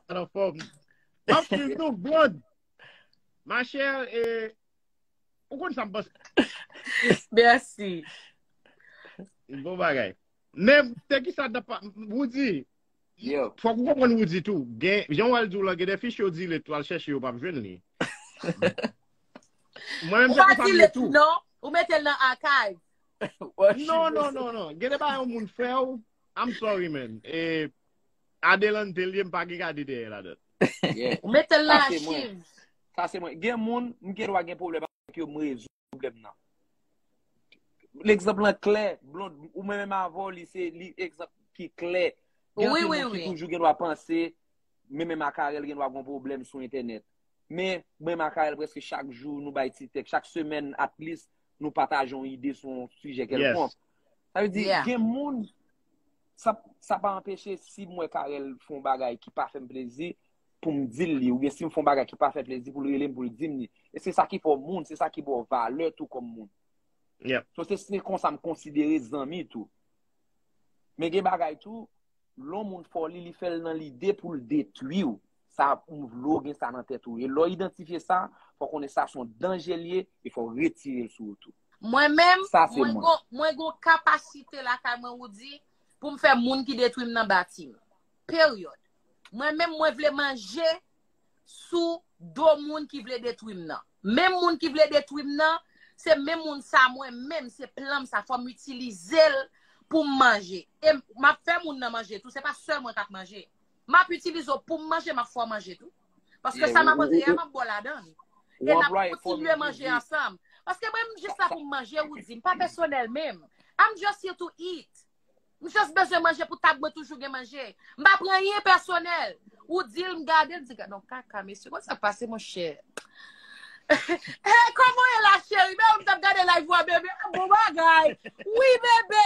An an fòm. Map suiv nou blond. Ma chère e ou konn sa m panse. Merci. Bon bagay. Men te ki sa da pa Woody. Yo. Fòk ou konprann Woody tou. Gen jan wal di w lan gen de fiche yo di le twal chèche yo pap jwenn li. Mwen menm se konsa m ye tou. Non, ou mete l nan archive. Non, non, non, non. Gen de ba yon moun fè ou. I'm sorry man. E Adelante l ye m pa gen gade dèyè ladan. Yeah. Ou mete l nan Sa se mwen. achiv. Sa se mwen. Gen moun, m gen dwa gen pwoblèm avèk yo, m rezoud pwoblèm nan. Legzanp lan klè, Blond, ou mwen menm avè w, li se li egzanp ki klè. Gen Oui, anpil oui, moun ki oui. toujou gen dwa panse, men menm ak Arel gen dwa gon pwoblèm sou entènèt. Men, mwen menm ak Arel prèske chak jou nou bay ti tèks, chak semèn at least nou pataje yon ide sou yon sijè Yes. kèlkonk. Sa vle di, Yeah. gen moun sa pa anpeche si m wè Carel fè yon bagay ki pa fè m plezi pou m di l li oubyen si m fè yon bagay ki pa fè l plezi pou l rele m pou l di m li. E se sa ki fè w moun, se sa ki ba w valè tou kòm moun. So se se konsa m konsidere zanmi tou. Men gen bagay tou, lè yon moun fè w li, li fè l nan lide pou l detwi w. Sa m vle w gen sa nan tèt ou. E lè w idantifye sa, fò w konnen sa se yon danje l ye e fò w retire l sou ou tou. Mwen menm, Sa se mwen mwen. gon, mwen gon kapasite lakay mwen ou di pou m fè moun ki detwi m nan bati m. Peryòd. Mwen menm mwen vle manje sou do moun ki vle detwi m nan. Menm moun ki vle detwi m nan, se menm moun sa mwen menm, se plan m sa, fò m itilize l pou m manje. E m ap fè moun nan manje tou, se pa sèl mwen k ap manje. M ap itilize w pou m manje, m ap fè w manje tou. Paske sa m ap antre a, m ap bo ladan l. E n ap kontinye manje ansanm. Paske mwen m jis la pou m manje, ou di. M pa pèsonèl menm. I'm just here to eat. M just bezwen manje pou tab mwen toujou gen manje. M pa pran anyen pèsonèl. Ou di l, m gade l, m di gad on kaka mesye. Kont sa k pase monchè? Kòman w ye la cheri? Mè w m t ap gade live ou a bebe. Bon bagay. Wi bebe.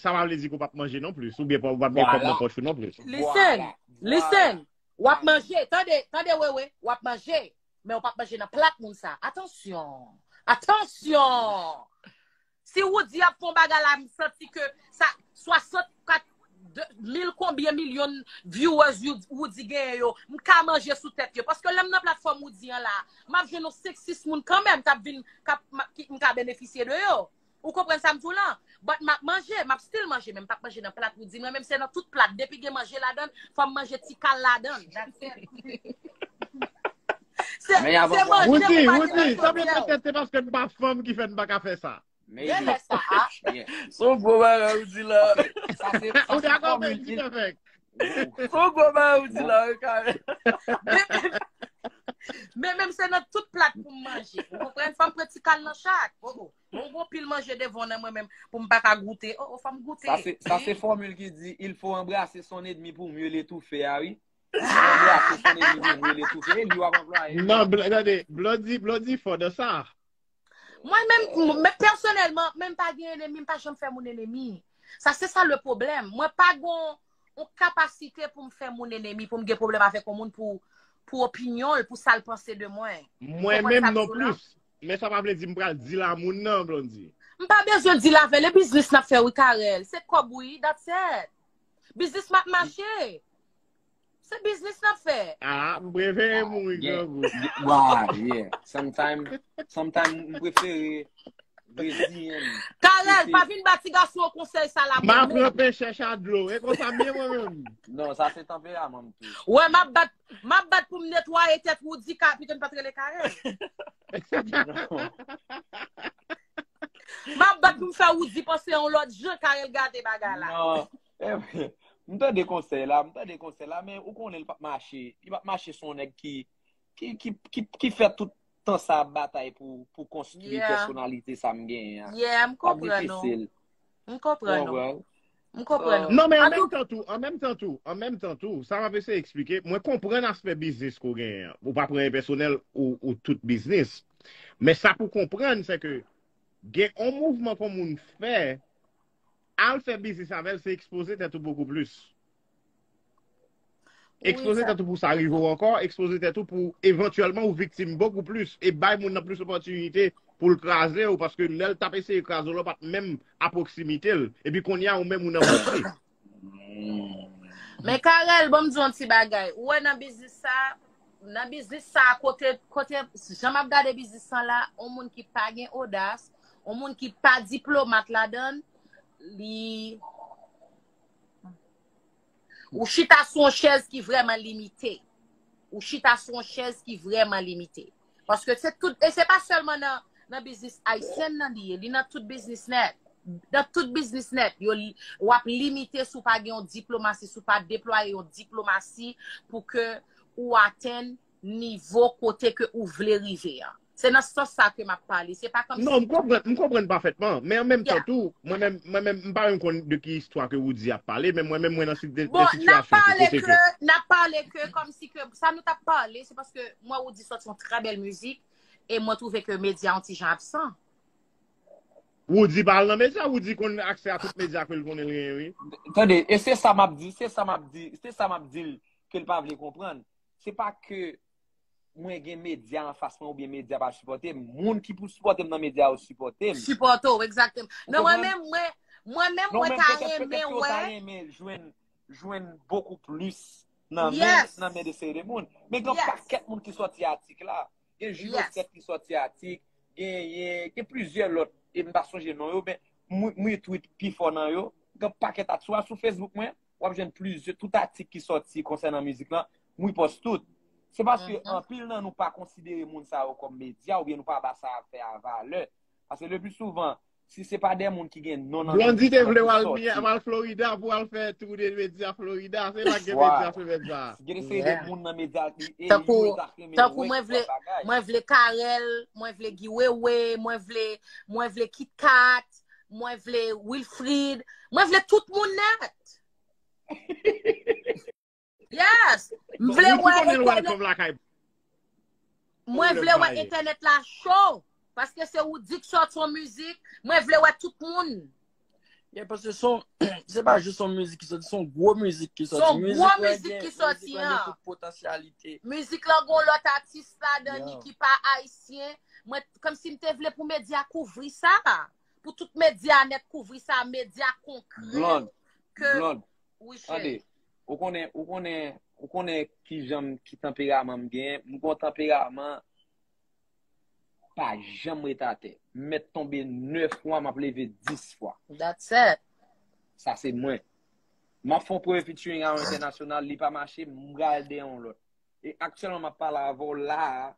Sa pa vle di ke w pap manje non plis, oubyen ou pap gen kòb nan pòch ou non plis. Listen! Listen! W ap manje, tande, tande Wewe, w ap manje, men ou pap manje nan plat moun sa a. Atansyon! Atansyon! Si Woody ap fè yon bagay la, m santi ke sa, 64 mil konbyen milyon viewers Woody genyen yo, m ka manje sou tèt yo. Paske lè m nan platfòm Woody an la a, m ap jwenn yon 5, 6 moun kanmenm k ap vin, k ap, m ka benefisye de yo. Ou konprann sa m di w lan? But map manje, map still manje men m pap manje nan plat ou di mwen men m se nan tout plat depi gen manje ladan l fò m manje ti kal ladan l. That's it. Se se manje ou pa Woody, gen Woody, nan sa mwen chodiè w. pètèt se paske m pa fanm ki fè m pa ka fè sa. Maybe. Gen lè sa a. Yeah. Son gwo bagay ou di la. Ok, sa se, sa Ou se dakò men fòmil. Guy Perfect? Wow. Son gwo bagay ou di la, Karen. Men men Men men m se nan tout plat pou m manje. Ou konprann? Fò m pran ti kal nan chak. Oh oh. Mwen gwo pil manje devan nan mwen menm pou m pa ka goute. O, o, fò m goute. Sa se fòmil ki di, il fò anbrase son edmi pou mye le toufe a wi. Anbrase son edmi pou mye le toufe. E li w ap anplwaye wi. Non, tande, Blondie, Blondie fò nan sa. Mwen menm, mwen pèsonèlman, menm pa gen enemi, m pa janm fè moun enemi. Sa se sa le pwoblèm. Mwen pa gon yon kapasite pou m fè moun enemi, pou m gen pwoblèm avèk yon moun pou opinyon l, pou sa l panse de mwen. Mwen menm non plis. Men sa pa vle di m pral deal a moun nan Blondie. M pa bezwen deal avèl e biznis nap fè wi Carel se kòb wi that's it biznis map mache se biznis nap fè. Ah m prefere mouri grangou. Waw yeah sometime sometime m prefere reziyen m. Carel pa vin ba ti gason an konsèy sa la menm non. M aprann pechè chat dlo e konsa m ye mwen menm. Non sa se tanperaman m tou. Wè map bat Map bat pou m netwaye tèt Woody ka pito n pat rele Carel. Map bat pou m fè Woody panse yon lòt jan Carel gate bagay la. Non, eh, m tande konsèy la, m tande konsèy la, men ou konnen li pap mache. Li pap mache sou yon nèg ki ki ki ki fè tout tan sa ap batay pou konstwi pèsonalite sa m genyen an. Yeah, m konprann ou. M konprann ou. M konprann ou. Non men an menm tan tou, an menm tan tou, an menm tan tou, sa m ap eseye eksplike, mwen konprann aspè biznis ke w genyen an. Ou pa pran enpèsonèl ou tout biznis. Men sa pou w konprann se ke gen yon mouvman ke yon moun fè, al fè biznis avè l se ekspoze tèt ou bokou plis. Ekspoze tèt ou pou sa rive ou ankò, ekspoze tèt ou pou evantyèlman ou viktim bokou plis, e bay moun nan plis opòtinite pou l kraze ou, paske lè l tap eseye kraze ou la ou pat menm a pwoksimite l, epi kounye a ou menm ou nan bouchi. Men Carel, banm di w yon ti bagay, ou wè nan biznis sa, nan biznis sa kote, kote, jan map gade biznis lan la, yon moun ki pa gen odas, yon moun ki pa diplomat ladan l, li, Ou chita sou yon chèz ki vrèman limite. Ou chita sou yon chèz ki vrèman limite. Paske se tout, e se pa sèlman nan biznis ayisyen nan li ye, li nan tout biznis nèt. Nan tout biznis nèt, yo li, wap limite sou pa gen yon diplomasi, sou pa deplwaye yon diplomasi pou ke ou atenn nivo kote ke ou vle rive an. Se nan sans sa ke m ap pale. Se pa kòmsi. Non, m konprann, m konprann pafètman. Men an menm tan tou, mwen menm, mwen menm, m pa menm konn de ki istwa ke Woody ap pale, men mwen menm mwen nan de Bon, n ap sitiyasyon tou pale kote ke. ke, n ap pale ke kòmsi ke, sa nou t ap pale, se paske mwen Woody sòti yon trè bèl mizik e mwen twouve ke medya yon ti jan absan. Woody pa al nan medya, Woody konn aksè a tout medya ke l konnen l genyen wi. Tande, e se sa m ap di, se sa m ap di, se sa m ap di l ke l pa vle konprann. Se pa ke mwen gen medya an fas mwen ou byen medya pa sipote m, moun ki pou sipote m nan medya yo sipote m. Sipote w, egzakteman. Men mwen menm, mwen menm mwen ta renmen wè. Non menm, petèt petèt yo ta renmen jwenn, jwenn bokou plis nan men, nan men de seri de moun. Yes. Men gen yon pakèt moun ki sòti atik la. Yes. Gen Jules Osset ki sòti atik, genyen, gen plizyè lòt, e m pa sonje non yo, men mwen retweet pi fò nan yo. Gen yon pakèt atik, swa sou Facebook mwen, wap jwenn plizye, tout atik ki soti konsènan mizik lan, m repòs tout. Se paske anpil nan nou pa konsidere moun sa yo kòm medya oubyen nou pa ba sa yap fè a valè. Paske le pli souvan, si se pa de moun ki gen non nan mizik lan ki soti. Blondy te vle w al Miami, al Florida pou al fè tou de medya Florida. Se la gen medya semèn sa a. Gen se de moun nan medya ki e yo yo ta flemen wè ki fè bagay. Tankou mwen vle Carel, mwen vle Guy Wewe, mwen vle Kit Kat. mwen vle Wilfrid, mwen vle tout moun net. Yes! Mwen vle wè internet. Mwen vle wè internet la show. Paske se ou dik sot son mizik, mwen vle wè tout moun. Ye, paske son, se pa jous son mizik ki soti, son gwo mizik ki soti. Son gwo mizik ki soti, an. Mizik la gen tout potansyalite. Mizik la gen lòt atis la, dani ki pa ayisyen. Kòm si m te vle pou medya kouvri sa. Pou tout medya net kouvri sa. Medya konkre. Blond. Blond. Wi chè. Tande. Ou konnen, ou konnen, ou konnen ki jan m, ki tanperaman m gen. M gon tanperaman pa janm ret atè. M met tonbe 9 fwa, m ap leve 10 fwa. That's it. Sa se mwen. M ap fon premye featuring a yon entènasyonal, li pa mache, m pral dè yon lòt. E aktyèlman m ap pale avè w la a,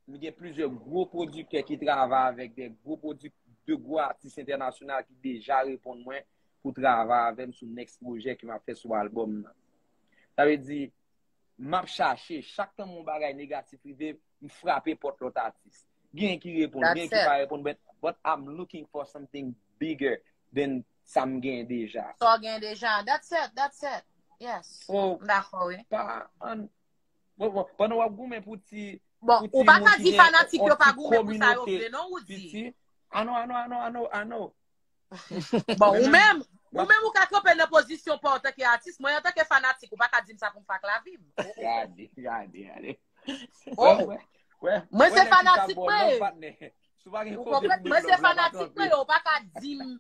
Nou gen plizyè gwo pwodiktè ki travay avèk de gwo pwodiktè, de gwo atis entènasyonal ki deja reponn mwen pou travay avè m sou next pwojè ke m ap fè sou albòm nan. Sa vle di, m ap chache, chak tan yon bagay negatif rive, m frape pòt lòt atis. Genyen ki reponn, genyen ki pa reponn, but I'm looking for something bigger than sa m genyen deja. Sa w genyen deja, that's it, that's it. Yes, m dakò wi. Bon, bon, pandan wap goumen pou ti... Bon, ou pa ka di fanatik yo pa goumen pou sa yo vle, non, Roody? A non, a non, a non, a non, a non. Bon, ou menm, ou menm ou ka kanpe nan pozisyon pa w tanke atis, mwen an tanke fanatik, ou pa ka di m sa pou m fè ak lavi m. Gade, gade, gade. Oh! Mwen se fanatik mwen. Ou konprann? Mwen se fanatik mwen, ou pa ka di m...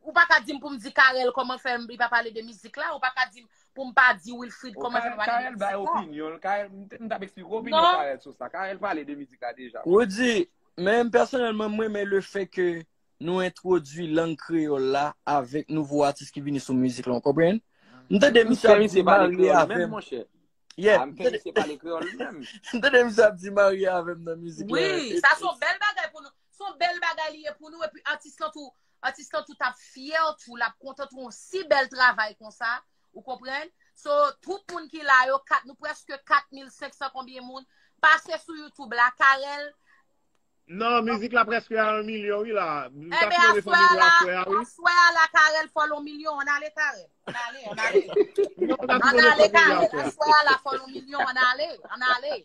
Ou pa ka dim pou m di Carel koman fè li pa pale de mizik la, ou pa ka dim pou m pa di Wilfrid koman fè li pa pale de mizik la. Carel bay opinyon l, Carel, m tap eksplike w opinyon Carel sou sa, Carel pale de mizik la deja. Roody, men pèsonèlman m renmen le fè ke nou entwodui lang kreyòl la avèk nouvo atis ki vini sou mizik la, ou konprann? M tande misye ap di marye avè m. Yeah. M tande misye pale kreyòl li menm. M tande misye ap di marye avè m nan mizik la. Oui, sa son bèl bagay pou nou. Son bèl bagay li ye pou nou epi atis lan tou Atis lan tou tap fyè tou, lap kontan tou yon si bèl travay konsa, ou konprann? So, tout moun ki la yo, kat nou prèske 4500 konbyen moun, pase sou YouTube la, Carel. Nan, mizik la prèske a 1 milyon wi la. Mta fin leve fanmi mwen aswè a wi. Enben aswè a la, aswè a la Carel fò l 1 milyon, an ale Carel. An ale, an ale. An ale Carel, aswè a la fò l 1 milyon, an ale, an ale.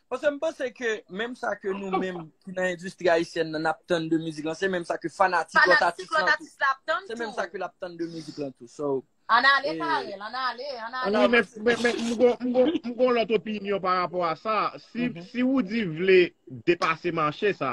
Paske m panse ke menm sa ke nou menm ki nan endistri ayisyèn nan ap tann de mizik lan, se menm sa ke fanatik lòt atis lan tou. Se menm sa ke l ap tann de mizik lan tou. So. An ale Carel, an ale, an ale. Wi men, men, men, m gon, m gon, m gon lòt opinyon pa rapò a sa. Si, si Roody vle depase mache sa,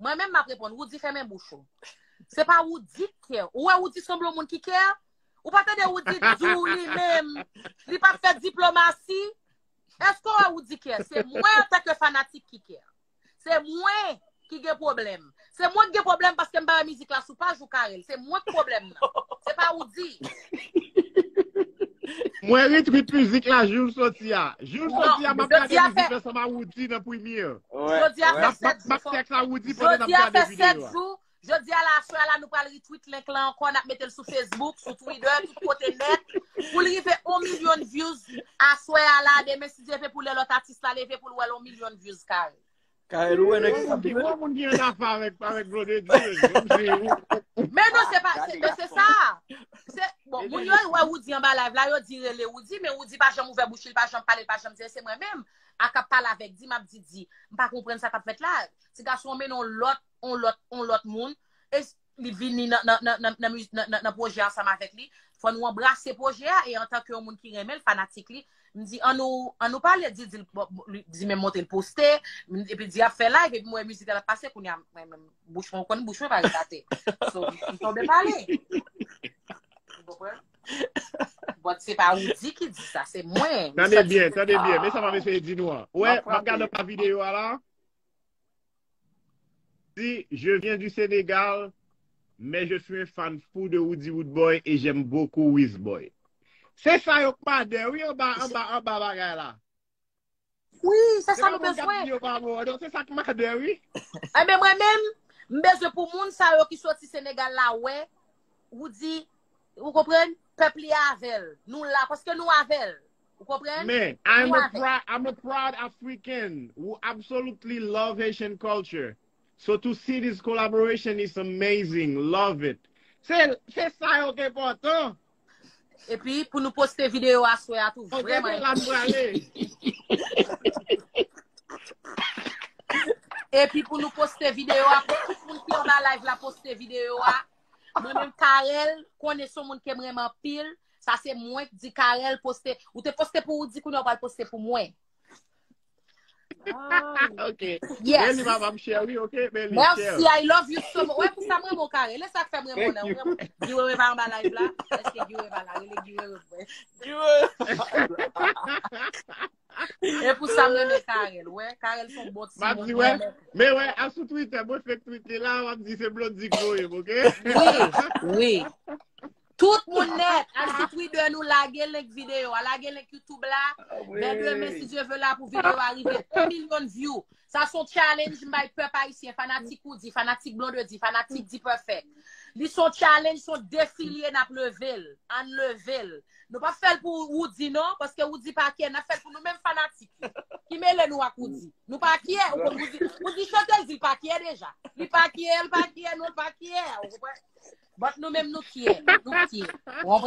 Mwen menm map reponn, Woody fèmen bouch ou. Se pa Woody ki kè. Ou wè Woody sanble yon moun ki kè? Ou pa tande Woody dou li menm? Li pa fè diplomasi? Eske ou wè Woody kè? Se mwen an tanke fanatik ki kè. Se mwen ki gen pwoblèm. Se mwen ki gen pwoblèm paske m pa wè mizik la sou paj ou Carel. Se mwen ki pwoblèm nan. Se pa Woody. Mwen ri trip mizik la joul soti a. Joul non, soti a map gade mizik la sama Woody nan premier. Jodi a fè 7 jou. Map tèks a Woody pendant map gade vidéo. Jodi a fè 7 jou. Jodi a la soya la nou pral retweet link la ankò nap metel sou Facebook, sou Twitter, tout kote net. Pou li rive 1 million views a soya la demen si Dieu veut pou lè lòt atis la leve pou l wèl 1 million views kare. Carel ou wè nèg sa pi wè. Moun ki an afa avèk Blonde di. Men non se pa se se sa. Se bon moun yo wè Woody an ba live la yo di rele Woody men Woody pa janm ouvè bouch li pa janm pale pa janm di se mwen menm a kap pale avèk di map di di. M pa konprann sa kap fèt la. Ti gason men non lòt on lòt on lòt moun. li vini nan nan nan nan nan miz nan nan nan pwojè ansanm avèk li, fò nou anbrase pwojè a e antanke yon moun ki renmen l, fanatik li, m di an nou an nou pale, di di l bon li di menm monte l poste, m epi di ap fè live epi m wè mizik la l ap pase kounye a mwen menm bouch mwen ou konn bouch mwen pa retate so m tonbe pale ou konprann? Bòt se pa Woody ki di sa, se mwen. Tande byen, tande byen, men sa m ap eseye di nou an. Wè, m ap gade pa videyo a la. Di je viens du Sénégal mais je suis un fan fou de Roody Roodboy et j'aime beaucoup Wisboy. Se sa yo kmade wi anba anba anba bagay la. Wi, se sa nou bezwen. Se sa kmade wi. Enben mwen menm, m bezwen pou moun sa yo ki soti Senegal la wè Roody, ou konprann, pèp li avèl. Nou la paske nou avèl. Ou konprann? Men, I'm a proud, I'm a proud African who absolutely love Haitian culture. So to see this collaboration is amazing. Love it. Se, se sa yo ki enpòtan. Epi, pou nou poste videyo aswè a tou, vrèman enpòtan. Ok, se la nou prale. Epi, pou nou poste videyo a, pou tout moun ki anba live la poste videyo a, mwen menm Carel, konnen son moun ke m renmen anpil. Sa se mwen k di Carel poste. Ou te poste pou ou di kounya ou pral poste pou mwen. Ah, ok. Yes. Beli mama m share wi, ok Beli. Merci, share. I love you so much. Wè pou sa m renmen kare. Lè sa k fè m renmen Thank you. nan. Giwewe pa anba live la. Eske Giwewe pa la? Rele Giwewe. Giwewe. E pou sa m renmen Carel. Wè, Carel son bon ti moun. Mwen renmen. Men wè, a sou Twitter, mwen fake tweet li la, wap di se Blondie ki voye m, ok? Wi, wi. Tout moun net, al sou Twitter nou lage link video a, lage link YouTube la. Men demen si Dieu veut la pou video a rive 1 million view. Sa son challenge m bay pèp ayisyen, fanatik ou di, fanatik Blonde di, fanatik D-Perfect. Li son challenge, son defi li e nap leve l. Ann leve l. Nou pa fèl pou Roody non, paske Roody pa kyè, na fèl pou nou menm fanatik yo, ki mele nou ak Roody. Nou pa kyè, ou konn Roody, Roody chante l di l pa kyè deja. Li pa kyè, l pa kyè, nou pa kyè, ou konprann? But nou menm nou kyè, nou kyè, ou konprann?